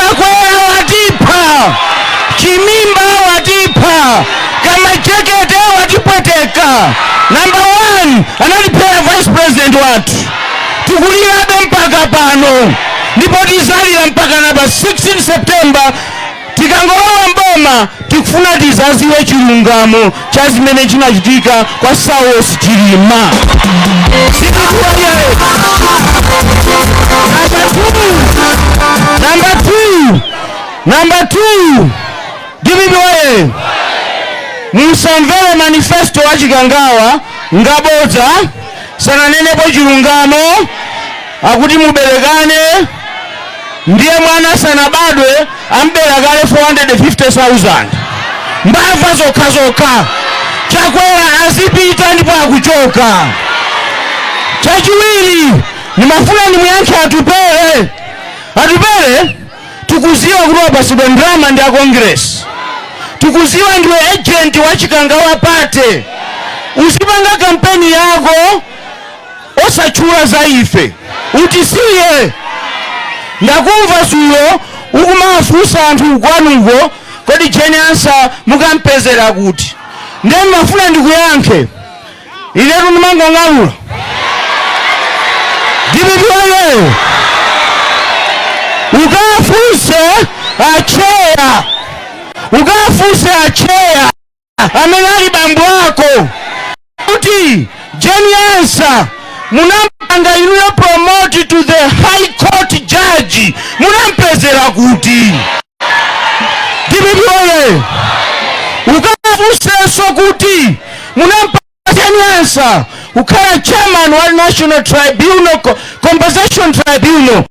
chakwera watipha chimimba watipha kamajekete watipweteka namba 1 anatiphera vice president wathu tikulirabe mpaka pano ndipo tizalira mpakana pa 16 september tikangolowa mboma tikufuna tizaziwe chilungamo cha zimene chinachitika kwa Saulos Chilima. Sindikuwa yeye. Number two. Number two. Number two. Dibidi waye. Musamvere manifesto wa Chikangawa ngabodza. Sananenepo chilungamo akuti muberekane ndiye mwana asanabadwe amubera kale 450,000 mbava zokha zokha chakwera azipita ndipo akuchoka chachiwiri ndimafuna ndimuyankhe atupele atupele tikuziwa kuti wapasidwa ndrama ndi a congress tikuziwa ndiwe agent wa chikangawa party uzipanga kampeni yako osatchula za ife utisiye ndakumva zulo ukumafunsa anthu kwanuko kodi jane ansah mukampezera kuti ndiye ndimafuna ndikuyankhe inetu ndimangong'alula dpp oye ukafunse acheya ukafunse acheya amene ali bambo ako kuti jane ansah munampanga inuyo promote to the high court judge munampezera kuti dpp oye ukafunsenso kuti munampanga jane ansah kukhala chairman wa national tribunal Co- compensation tribunal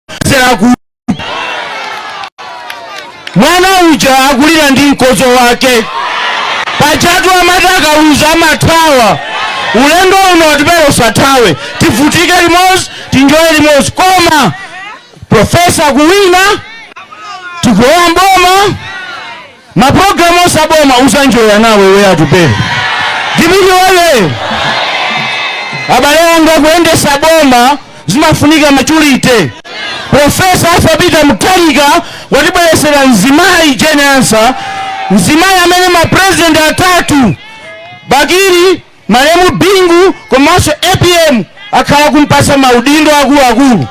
munampezera kuti mwana uja akulira ndi mkozo wake pajatu amati akaluza amathawa ulendo uno atupele usathawe tivutike limodzi tinjoye limodzi koma Profesa akuwina, tikulowa mboma, mapulogalamu onse a boma uzanjoya nawe iwe atupele DPP oye. Abale anga kuyendesa boma zimafunika maturity. Profesa Arthur Peter Mutharika watibweresera mzimayi Jane Ansah, mzimayi amene mapresident atatu Bakili Malemu Bingu komanso apm akhala kumpasa maudindo akuluakulu.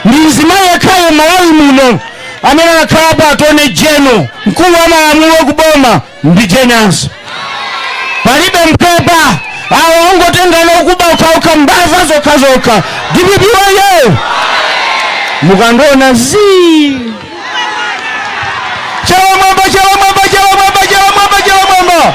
Ndi mzimayi yekha mu Malawi muno amene anakhalapo Attorney General mkulu wa malamulo ku boma ndi Jane Ansah. Palibe mpepa awo ongotengana okuba ukauka mbava zokhazokha dpp wayo mukandiona zii chalamwamba chalamwamba chalamwamba chalamwamba chalamwamba